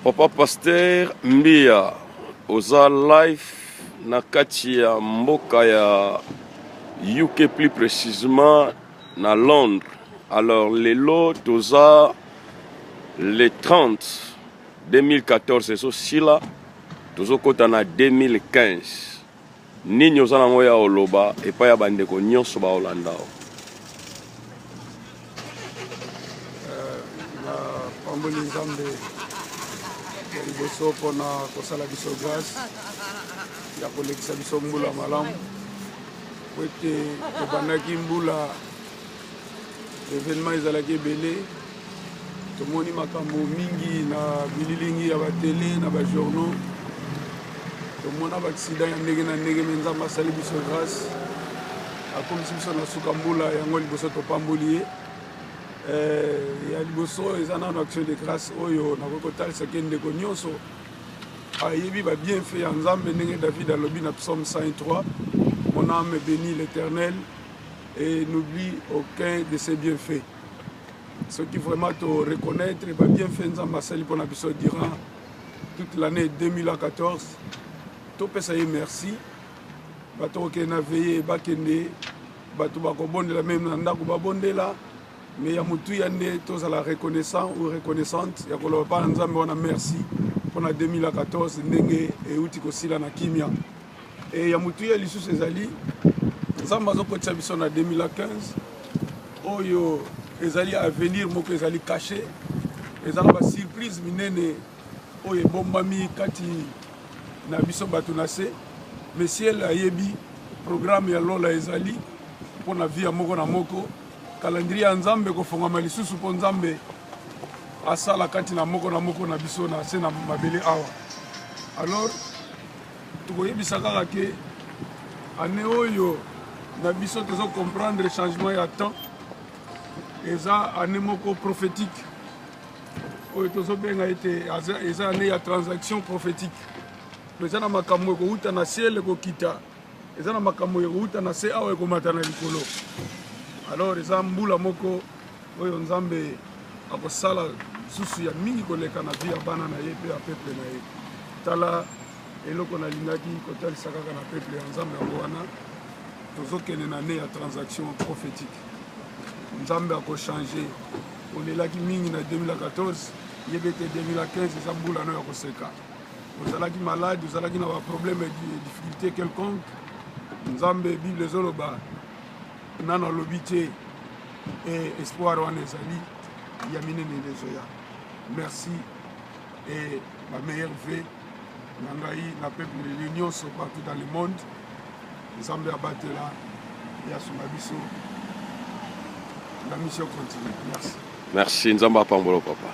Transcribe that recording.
Papa Pasteur Mbia, oza live na kati ya mboka ya UK plus précisément na Londres. Alors lelo toza le 30 2014 ezosila tozokota na 2015 Nini oza nango ya oloba epai ya bandeko nyonso baolanda yo? Eh, napamboli nzambe ya liboso mpona kosala biso grâce ya kolekisa biso mbula malamu po ete tobandaki mbula evenement ezalaki ebele tomoni makambo mingi na bililingi ya batele na bajournaux tomona baaksida ya ndenge na ndenge me nzambe asali biso grâce akomisi biso na suka mbula yango liboso topamboli ye eh, ya liboso eza nano action de grâce oyo nakoki kotalisa ke ndeko nyonso ayebi babienfait ya nzambe ndenge david alobi na psaume 103 mon ame béni l'éternel et n'oublie aucun de ses bienfaits soki vraiment to reconnaître ba bienfaits nzambe asali mpona biso durant toute l'année 2014 topesa ye merci bato kokende na veye bakende bato bakobondela meme na ndako babondela mais ya motuya nde tozala reconnaissant ou reconnaissante ya koloba mpa na nzambe wana merci mpo na 2014 ndenge euti kosila na kimia E ya motuya lisusu ezali nzambe azokotisa biso na 2015 oyo ezali avenir moko ezali cache eza na basurprise minene oyo ebombami kati na biso bato na se mesiel ayebi programme ya lola ezali mpo na via moko na moko kalandrie ya nzambe ekofongama lisusu mpo nzambe asala kati na moko na moko na biso na se na mabele awa alors tokoyebisa kaka ke ane oyo na biso tozo comprendre changement ya temps eza ane moko prophétique oyo tozobenga ete eza ane ya transaction prophétique to eza na makambo ekowuta na ciel ekokita eza na makambo ekowuta na se awa ekomata na likolo alors eza mbula moko oyo nzambe akosala lisusu ya mingi koleka na vi ya bana na ye mpe ya peple na ye tala eloko nalingaki kotalisa kaka na peple ya nzambe yango wana tozokende na ne ya transaction prophétique nzambe akochange olelaki mingi na 2014 yebe te 2015 eza mbula no ya koseka ozalaki malade ozalaki na baproblème ya difficulté quelconque nzambe bible ezoloba nano alobi te eh, espoir wana ezali ya minene ezoya merci et ma meilleure vie na ngai na peuple leli nyonso partout dans le monde nzambe abatela ye asunga biso la mission continue merci merci nzambe apambola papa